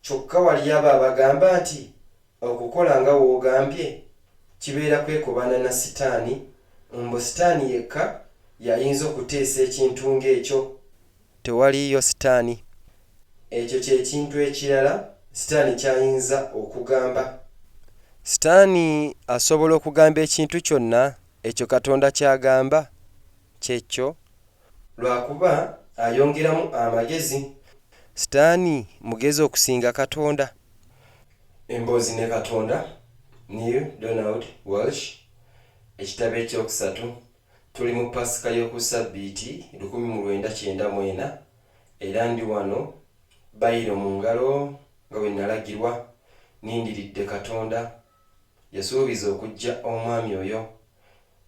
Kyokka waliyo abo abagamba nti okukola nga w'ogambye kibeera kwekobaana na Sitaani, mbu Sitaani yekka y'ayinza okuteesa ekintu ng'ekyo. Tewaliiyo Sitaani. Ekyo kye kintu ekirala Sitaani ky'ayinza okugamba. Sitaani asobola okugamba ekintu kyonna ekyo Katonda ky'agamba, ky'ekkyo, Lwa kuba ayongeramu amagezi. Sitaani mugezi okusinga Katonda. Emboozi ne Katonda, Neale Donald Walsch, Ekitabo eky'okusatu, Tuli mu Pasika y'oku Ssabbiiti lukumi mu lwenda kyenda mu ena, era ndi wano, Bayiro mu ngalo, nga bwe nnalagirwa, nnindiridde Katonda. Yasuubiza okuggya omwami oyo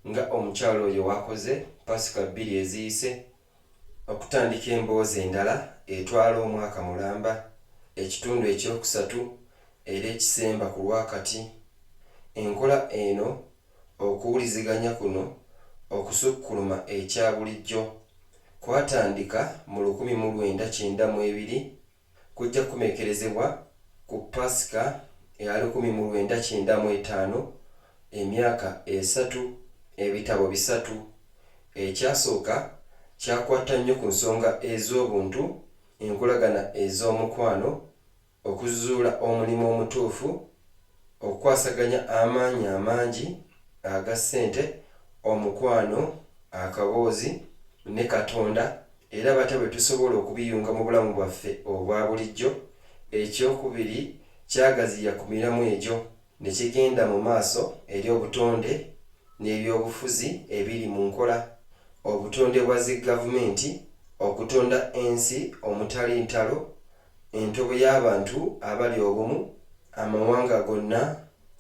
nga omukyala oyo w'akoze Paasika bbiri eziyise, okutandika emboozi endala etwala omwaka mulamba, ekitundu eky'okusatu era ekisemba ku lwa kati. Enkola eno, okuwuliziganya kuno okusukkuluma ekya bulijjo, kwatandika mu lukumi mu lwenda kyenda mu ebiri kujja kukomekerezebwa ku Paasika eya lukumi mu lwenda kyenda mu etaano, emyaka esatu, ebitabo bisatu. Ekyasooka kyakwata nnyo ku nsonga ez'obuntu, enkolagana ez'omukwano, okuzuula omulimu omutuufu, Okukwasaganya amaanyi amangi aga ssente, omukwano, akaboozi, ne Katonda, era batya bwe tusobola okubiyunga mu bulamu bwaffe obwa bulijjo? Eky'okubiri kyagaziya ku miramwa egyo ne kigenda mu maaso eri obutonde n'eby'obufuzi ebiri mu nkola, obutonde bwa zi gavumenti, okutonda ensi omutali ntalo, entobo y'abantu abali obumu, amawanga gonna,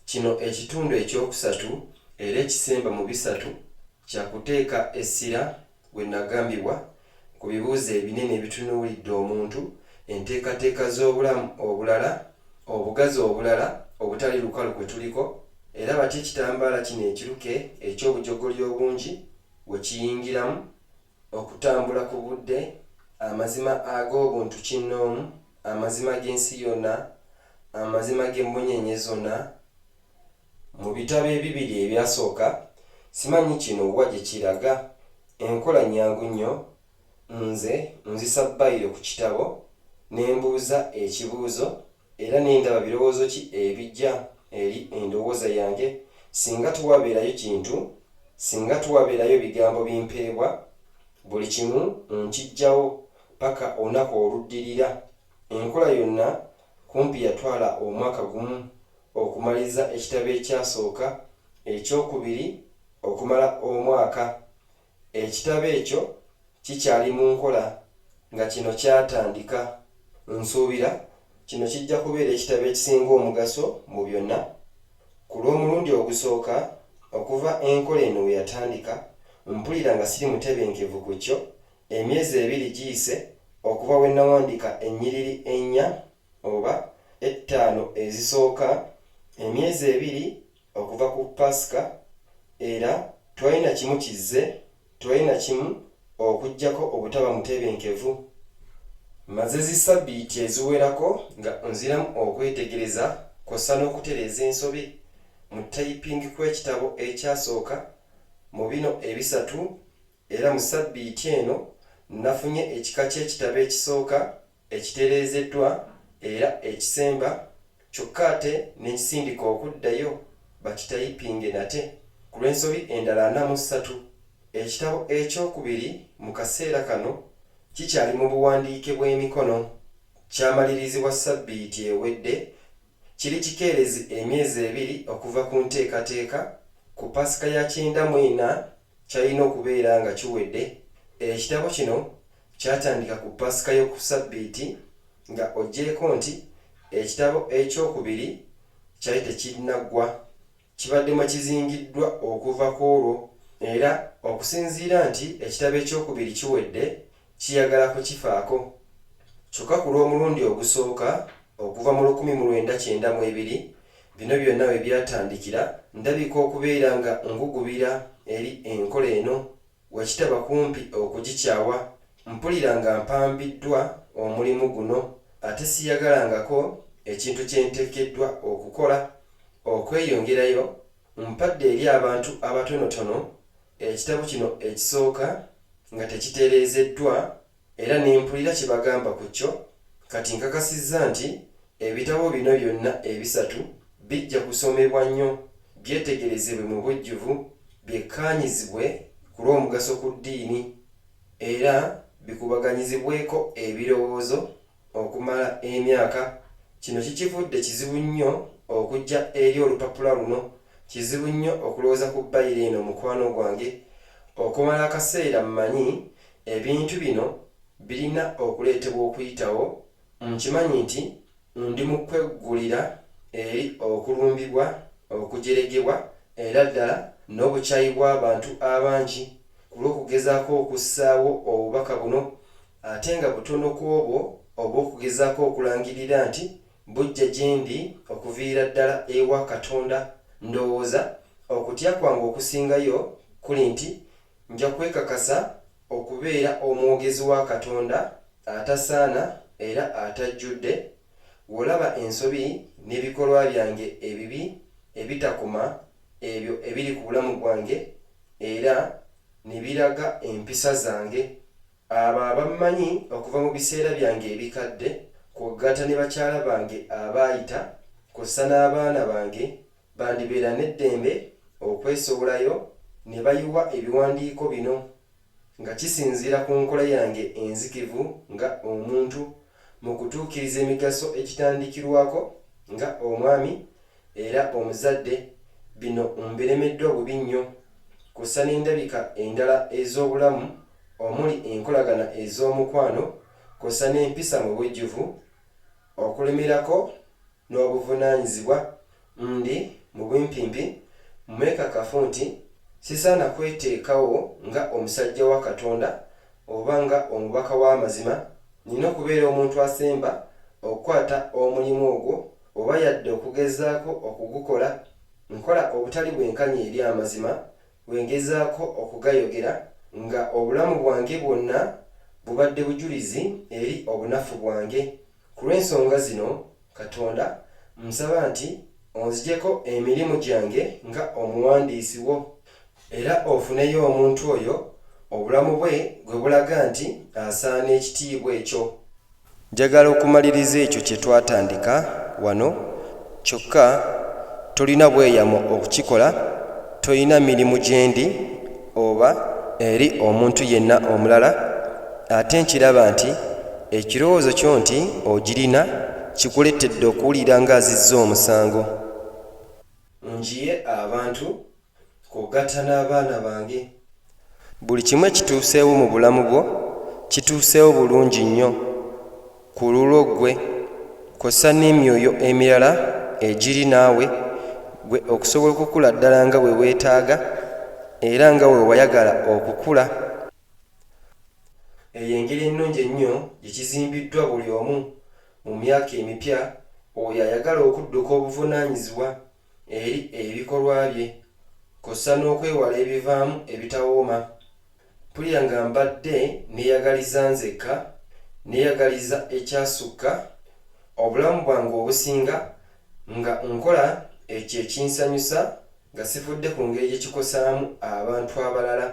kino ekitundu eky'okusatu era ekisemba mu bisatu kya kuteeka essira we nagambibwa ku bibuuzo ebinene ebitunuulidde omuntu, enteekateeka z'obulamu obulala, obugazi obulala obutali lukalu kwe tuliko, era batya ekitambaala kino ekiruke eky'obujogoli obungi we kiyingiramu. Okutambula ku budde, amazima ag'obuntu kinnoomu, amazima g'ensi yonna, amazima g'emmunyeenye zonna. Mu bitabo ebibiri ebyasooka, simanyi kino wa gye kiraga, enkola nnyangu nnyo, nze nzisa bbayiro ku kitabo ne mbuuza ekibuuzo Era ne ndaba birowoozo ki ebijja eri endowooza yange singa tewabeerayo kintu, singa tewabeerayo bigambo bimpeebwa, buli kimu nkijjawo paka olunaku oluddirira. Enkola yonna kumpi yatwala omwaka gumu okumaliriza ekitabo ekyasooka, eky'okubiri okumala omwaka. Ekitabo ekyo kikyali mu nkola nga kino kyatandika. Nsuubira kino kijja kubeera ekitabo ekisinga omugaso mu byonna. Ku lw'omulundi ogusooka okuva enkola eno we yatandika, mpulira nga siri mutebenkevu ku kyo, emyezi ebiri giyise okuva we nnawandiika ennyiriri ennya oba ettaano ezisooka, emyezi ebiri okuva ku Paasika, era tewali na kimu kizze, tewali na kimu okuggyako obutaba mutebenkevu. Mmaze zi ssabbiiti eziwerako nga nziramu okwetegereza kw'ossa n'okutereeza ensobi mu ttayipingi kw'ekitabo ekyasooka mu bino ebisatu, era mu ssabbiiti eno nnafunye ekika ky'ekitabo ekisooka. ekitereezeddwa era ekisemba kyokka ate ne nkisindika okuddayo bakitayipinge nate ku lw'ensobi endala ana mu ssatu. Ekitabo eky'okubiri mu kaseera kano kikyali mu buwandiike bw'emikono, kyamalirizibwa ssabbiiti ewedde, kiri kikeerezi emyezi ebiri okuva ku nteekateeka ku Paasika ya kyenda mu ena. Kyalina okubeera nga kiwedde. Ekitabo kino kyatandika ku Paasika y'oku Ssabbiiti, nga oggyeeko nti ekitabo eky'okubiri kyali tekinnaggwa, kibadde mwe kizingiddwa okuva ku olwo. Era okusinziira nti ekitabo eky'okubiri kiwedde, kiyagala kukifaako. Kyokka ku lw'omulundi ogusooka okuva mu lukumi mu lwenda kyenda mu ebiri bino byonna we byatandikira, ndabika okubeera nga ngugubira eri enkola eno, wakitaba kumpi okugikyawa. Mpulira nga mpambiddwa omulimu guno, ate siyagalangako ekintu kye nteekeddwa okukola. Okweyongerayo, mpadde eri abantu abatonotono Ekitabo kino ekisooka nga tekitereezeddwa era ne mpulira kye bagamba ku kyo, kati nkakasizza nti ebitabo bino byonna ebisatu bijja kusomebwa nnyo byetegerezebwe mu bujjuvu, byekkaanyizibwe ku lw'omugaso ku ddiini, era bikubaganyizibweko ebirowoozo okumala emyaka, kino kikivudde kizibu nnyo okujja eri olupapula luno, kizibu nnyo okulowooza ku bayiro eno mukwano gwange, okumala akaseera mmanyi ebintu bino birina okuleetebwa okuyitawo, nkimanyi nti ndi mu kweggulira eri okulumbibwa, okujeregebwa era ddala n'obukyayi bw'abantu abangi ku lw'okugezaako okussaawo obubaka buno ate nga butono ku obwo obw'okugezaako okulangirira nti bujja gye ndi okuviira ddala ewa Katonda. Ndowooza okutya kwange okusingayo kuli nti nja kwekakasa okubeera omwogezi wa Katonda atasaana era atajjudde, w'olaba ensobi n'ebikolwa byange ebibi ebitakoma ebyo ebiri ku bulamu bwange era ne biraga empisa zange. Abo abammanyi okuva mu biseera byange ebikadde, kw'ogatta ne bakyala bange abaayita, kw'ossa n'abaana bange, bandibeera n'eddembe okwesowolayo ne bayiwa ebiwandiiko bino, nga kisinziira ku nkola yange enzikivu nga omuntu, mu kutuukiriza emigaso egitandikirwako nga omwami era omuzadde bino mbiremeddwa bubi nnyo kussa n'endabika endala ez'obulamu omuli enkolagana ez'omukwano kussa n'empisa mu bujjuvu okulemerako n'obuvunaanyizibwa, ndi, mu bumpimpi, mwekakafu nti sisaana kweteekawo nga omusajja wa Katonda oba nga omubaka w'amazima, nnina okubeera omuntu asemba okukwata omulimu ogwo oba yadde okugezaako okugukola. Nkola obutali bwenkanya eri amazima bwe ngezaako okugayogera, nga obulamu bwange bwonna bubadde bujulizi eri obunafu bwange. Ku lw'ensonga zino, Katonda, mmusaba nti onzigyeko emirimu gyange nga omuwandiisi wo, era ofuneyo omuntu oyo obulamu bwe gwe bulaga nti asaana ekitiibwa ekyo. Njagala okumaliriza ekyo kye twatandika wano Kyokka tolina bweyamo okukikola, tolina mirimu gye ndi oba eri omuntu yenna omulala, ate nkiraba nti ekirowoozo kyo nti ogirina kikuleetedde okuwulira ng'azizza omusango. Mu nju ye abantu Kugatta n'abaana bange. Buli kimu ekituuseewo mu bulamu bwo kituuseewo bulungi nnyo ku lulwo ggwe kwossa n'emyoyo emirala egiri naawe ggwe okusobola okukula ddala nga bwe weetaaga era nga bwe wayagala okukula. Eyo engeri ennungi ennyo gye kizimbiddwa buli omu mu myaka emipya oyo ayagala okudduka obuvunaanyizibwa eri ebikolwa bye kw'ossa n'okwewala ebivaamu ebitawooma. Mpulira nga mbadde nneeyagaliza nzekka, nneeyagaliza ekyasukka, obulamu bwange obusinga nga nkola ekyo ekinsanyusa nga sifudde ku ngeri gye kikosaamu abantu abalala.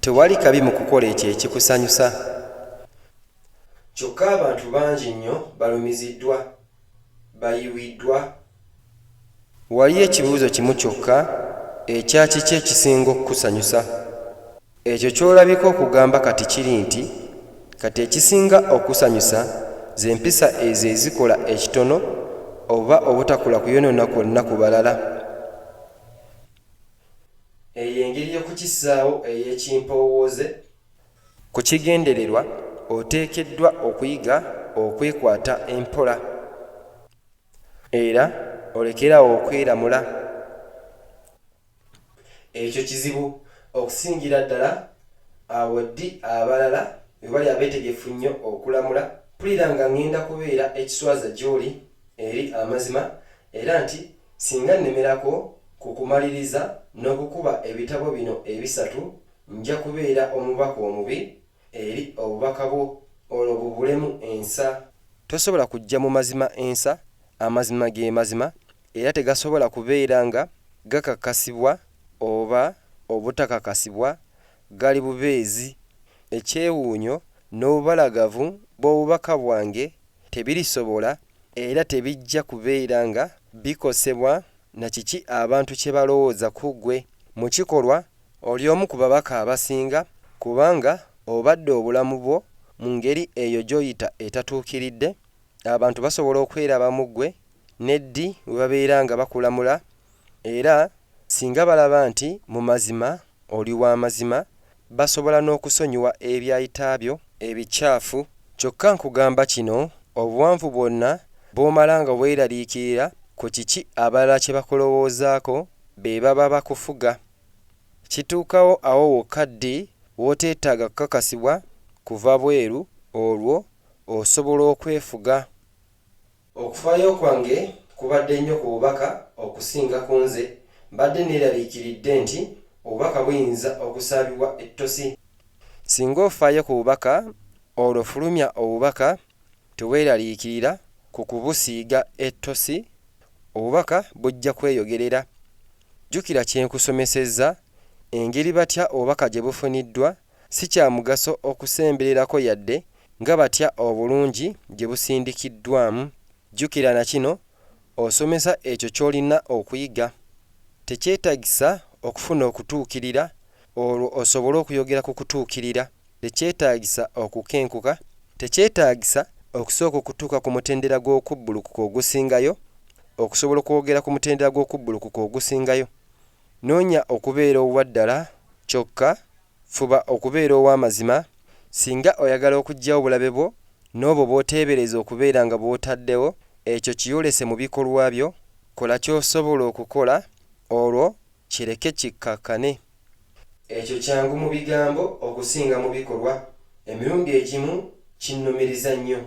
Tewali kabi mu kukola ekyo ekikusanyusa. Kyokka abantu bangi nnyo balumiziddwa, bayiwiddwa. Waliyo ekibuuzo kimu kyokka ekya kiki ekisinga okukusanyusa. Ekyo ky'olabika okugamba kati kiri nti, Kati ekisinga okusanyusa ze mpisa ezo ezikola ekitono oba obutakola kuyonoona kwonna ku balala. Eyo engeri y'okukissaawo ey'ekimpoowooze. Ku kigendererwa, oteekeddwa okuyiga okwekwata empola era olekere awo okweramula. Ekyo kizibu okusingira ddala awo ddi abalala we bali abeetegefu nnyo okulamula. Mpulira nga ŋŋenda kubeera ekiswaza gy'oli eri amazima Era nti singa nnemerako ku kumaliriza n'okukuba ebitabo bino ebisatu, nja kubeera omubaka omubi eri Obubaka bwo, olwo bubulemu ensa. Tosobola kujja mu Mazima ensa. Amazima ge Mazima, era tegasobola kubeera nga gakakasibwa oba obutakakasibwa, gali bubeezi. Ekyewuunyo n'obubalagavu bw'Obubaka bwange tebirisobola era tebijja kubeera nga bikosebwa na kiki abantu kye balowooza ku ggwe. Mu kikolwa, oli omu ku babaka abasinga kubanga obadde obulamu bwo mu ngeri eyo gy'oyita etatuukiridde. Abantu basobola okweraba mu ggwe ne ddi we babeera nga bakulamula, era singa balaba nti mu mazima oli wa mazima, basobola n'okusonyiwa ebyayita byo ebikyafu. Kyokka nkugamba kino, obuwanvu bwonna bw'omala nga weeraliikirira ku kiki abalala kye bakulowoozaako be baba bakufuga, kituukawo awo wokka ddi w'oteetaaga kukakasibwa kuva bweru, olwo osobola okwefuga. Okufaayo kwange kubadde nnyo ku bubaka okusinga ku nze. Mbadde nneeraliikiridde nti obubaka buyinza okusaabibwa ettosi. Singa ofaayo ku bubaka, olwo fulumya obubaka teweeraliikirira ku kubusiiga ettosi, obubaka bujja kweyogerera. Jjukira kye nkusomesezza, engeri batya obubaka gye bufuniddwa si kya mugaso okusembererako yadde Nga batya obulungi gye busindikiddwamu! Jjukira na kino, Osomesa ekyo ky'olina okuyiga. Tekyetagisa okufuna okutuukirira olwo osobole okuyogera ku kutuukirira. Tekyetagisa okukenkuka. Tekyetagisa okusooka okutuuka ku mutendera gw'okubbulukuka ogusingayo okusobola okwogera ku mutendera gw'okubbulukuka ogusingayo. Noonya okubeera owa ddala kyokka Fuba okubeera ow'amazima. Singa oyagala okuggyawo obulabe bwo n'obwo bw'oteebereza okubeera nga bw'otaddewo, ekyo kiyolese mu bikolwa byo. Kola ky'osobola okukola, olwo kireke kikkakkane. Ekyo kyangu mu bigambo okusinga mu bikolwa. Emirundi egimu kinnumiriza nnyo.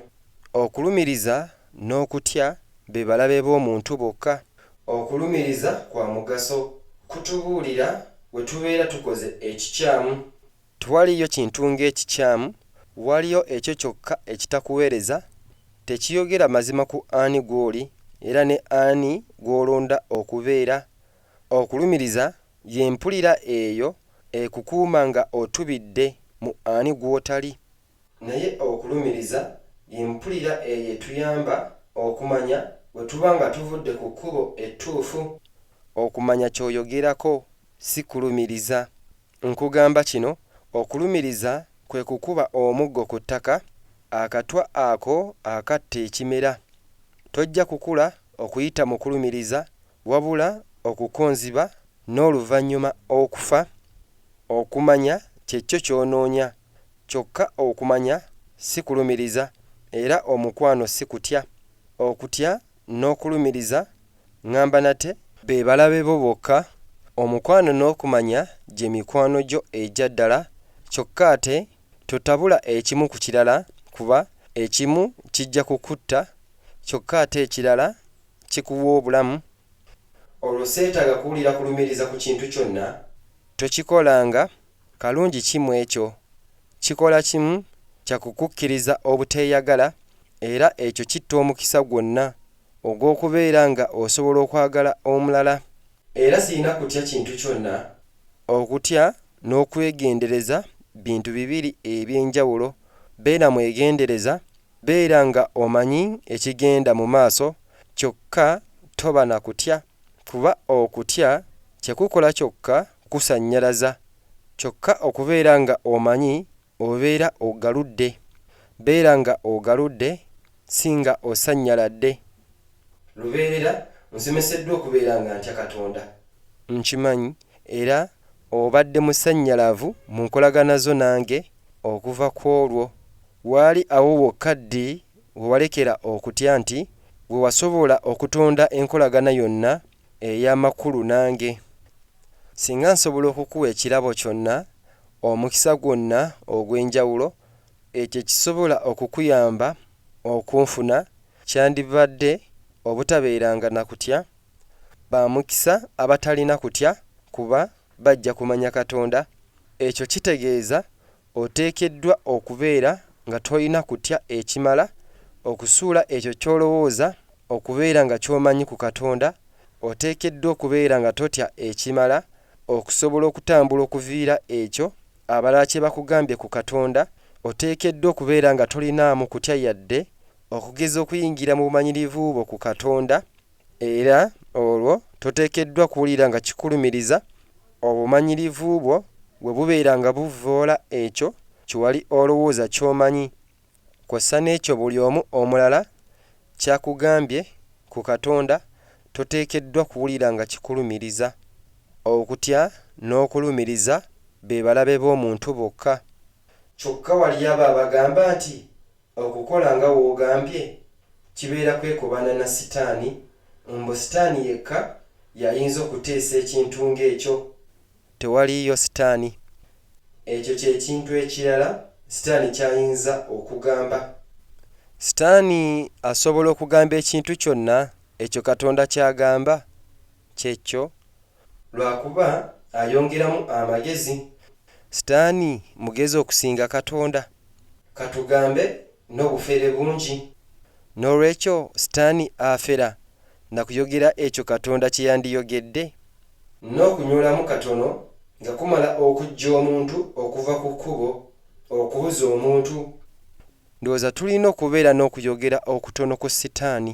Okulumiriza n'okutya be balabe b'omuntu bokka. Okulumiriza kwa mugaso, kutubuulira bwe tubeera tukoze ekikyamu. Tewaliyo kintu ng'ekikyamu, waliyo ekyo kyokka ekitakuweereza, tekiyogera mazima ku ani gw'oli era ne ani gw'olonda okubeera. Okulumiriza y'empulira eyo ekukuuma nga otubidde mu ani gw'otali. Naye okulumiriza ye mpulira eyo etuyamba okumanya bwe tuba nga tuvudde ku kkubo ettuufu. Okumanya ky'oyogerako si kulumiriza. Nkugamba kino, okulumiriza kwe kukuba omuggo ku ttaka, akatwa ako akatta ekimera. Tojja kukula okuyita mu kulumiriza, wabula okukonziba n'oluvannyuma okufa. Okumanya kye kyo ky'onoonya. Kyokka okumanya si kulumiriza, era omukwano si kutya. Okutya n'okulumiriza, ŋŋamba nate, be balabe bo bokka, omukwano n'okumanya gye mikwano gyo egya ddala kyokka ate totabula ekimu ku kirala kuba ekimu kijja kukutta kyokka ate ekirala kikuwa obulamu. Olwo seetaaga kuwulira kulumiriza ku kintu kyonna. Tokikolanga Kalungi ki mu ekyo? Kikola kimu kya kukukkiriza obuteeyagala, era ekyo kitta omukisa gwonna ogw'okubeera nga osobola okwagala omulala. Era sirina kutya kintu kyonna. Okutya n'okwegendereza bintu bibiri eby'enjawulo. Beera mwegendereza, beera nga omanyi ekigenda mu maaso, kyokka toba na kutya. Kuba okutya tekukola kyokka kusannyalaza, kyokka okubeera nga omanyi obeera ogaludde. Beera nga ogaludde si nga osannyaladde. Lubeerera, Nsomeseddwa okubeera nga ntya Katonda. Nkimanyi era obadde musannyalavu mu nkolagana zo nange okuva kw'olwo. Waali awo wokka ddi? we walekera okutya nti we wasobola okutonda enkolagana yonna ey'amakulu nange. Singa nsobola okukuwa ekirabo kyonna, omukisa gwonna ogw'enjawulo, ekyo ekisobola okukuyamba okunfuna, kyandibadde obutabeeranga na kutya. Ba mukisa abatalina kutya kuba bajja kumanya Katonda. Ekyo kitegeeza Oteekeddwa okubeera nga tolina kutya ekimala okusuula ekyo ky'olowooza okubeera nga ky'omanyi ku Katonda. Oteekeddwa okubeera nga totya ekimala okusobola okutambula okuviira ekyo abalala kye bakugambye ku Katonda. Oteekeddwa okubeera nga tolinaamu kutya yadde okugeza okuyingira mu bumanyirivu bwo ku Katonda. Era olwo toteekeddwa kuwulira nga kikulumiriza obumanyirivu bwo bwe bubeera nga buvvoola ekyo kye wali olowooza ky'omanyi, kw'ossa n'ekyo buli omu omulala ky'akugambye ku Katonda, toteekeddwa kuwulira nga kikulumiriza. Okutya n'okulumiriza be balabe b'omuntu bokka. Kyokka waliyo abo abagamba nti, Okukola nga w'ogambye kibeera kwekobaana na sitaani, mbu sitaani yekka y'ayinza okuteesa ekintu ng'ekyo. Tewaliiyo sitaani. Ekyo kye kintu ekirala sitaani ky'ayinza okugamba. Sitaani asobola okugamba ekintu kyonna ekyo Katonda ky'agamba. Ky'ekyo. Lwa kuba ayongeramu amagezi. Sitaani mugezi okusinga Katonda. Ka tugambe, n'obufere bungi. N'olwekyo Sitaani afera na kuyogera ekyo Katonda kye yandiyogedde. N'okunyolamu katono nga kumala okuggya omuntu okuva ku kkubo, okubuza omuntu. Ndowooza tulina okubeera n'okuyogera okutono ku Sitaani.